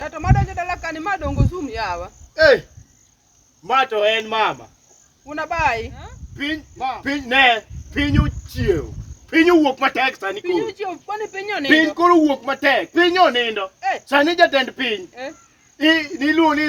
Ng'ato madonjo dala kani ma dongo sum yawa. Hey! Ma to en mama. Unabai. Piny piny ne piny ochiew. Piny owuok matek sani koro. Piny ochiew kwani piny onindo. Piny koro owuok matek. Piny onindo. Eh. Sani jatend piny. Eh. Niluongo ni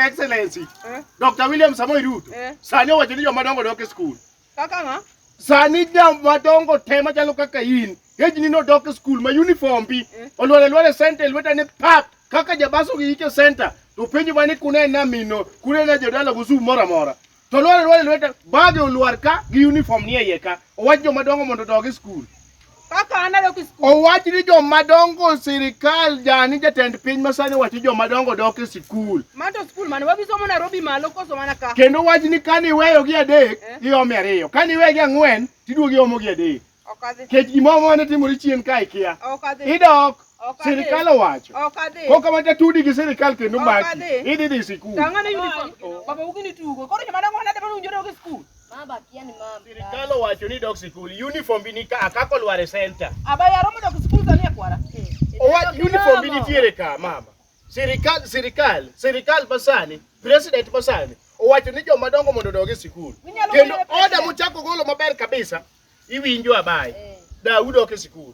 Excellency. Eh. Dr. William Samoei Ruto. Eh. Sani owacho ni joma dongo dok e skul. Kaka ng'a? Sani jam madongo te machalo kaka in. Hejni nodok e skul ma uniform bi. Eh. Olwar alwar e center lweta ni pap. Kaka jabaso gi yike center. To penjo mani kune na mino. Kune na jodala gusu moro amora. To olwar alwar e lweta bage olwar ka gi uniform ni e iye ka. Owach joma dongo mondo odog e skul. Owach ni joma dongo sirikal jani jatend piny masani wacho joma dongo dok e sikul. Mato sikul mane wabisomo Nairobi malo koso mana ka. Kendo wach ni kani iweyo gi adek eh? iome ariyo. Kani iweyo gi ang'wen tiduogi omo gi adek. Okadhi. Kech gimoro mane timore chien ka ikia. Okadhi. Idok. Sirikal owacho. Okadhi. Koka mata tudi gi sirikal kendo maki. Idhi dhi sikul. Tang'ane uniform. Baba ugini tugo. Koro joma dongo nade ma unjore gi sikul? Mama kia ni mama. Sirikal owacho ni dok sikul, uniform bi nika akako lware center. Aba yaro mondo sikul sani akwara. Owach uniform bi nitiere ka mama. Sirikal sirikal sirikal basani, president basani owacho ni joma dongo mondo odogi sikul. Kendo oda mochako golo maber kabisa iwinjo abaye. Eh. Daudi ok e sikul.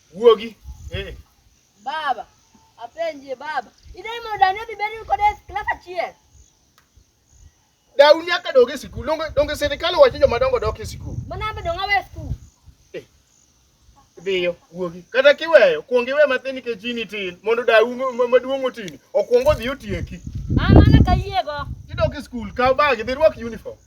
Wuogi. Eh. Baba, apenje baba. Idai mo dani bi beri ko des klas achiel. Dau nyaka doge sikul. Donge donge serikali wacho joma dongo dok e sikul. Mana be donga we sikul. Eh. Dhiyo, wuogi. Kata kiweyo, kuong iwe matin nikech in itin mondo dau maduong' otini. Okuong odhi otieki. Ah, mana kayiego. Idok e sikul, kaw bag, dhi rwak uniform.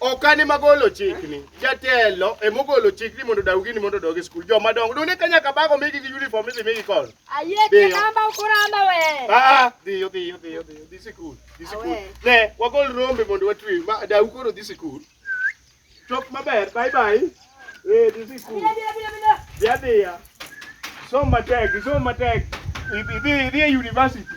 ok an ema golo chikni jatelo ema ogolo chikni mondo daw gini mondo odog e skul joma dongo done ka nyaka bago migi gi uniform idhi migi kono ayie Dhiyo. kinamba ukuramba we Ah, dhiyo dhiyo dhiyo dhiyo dhi sikul dhi sikul Awe. ne wagol rombe mondo watwe ma daw koro dhi sikul chop maber bye bye eh dhi sikul bila bila bila bila dhi adhiya som matek som matek idhi idhi e university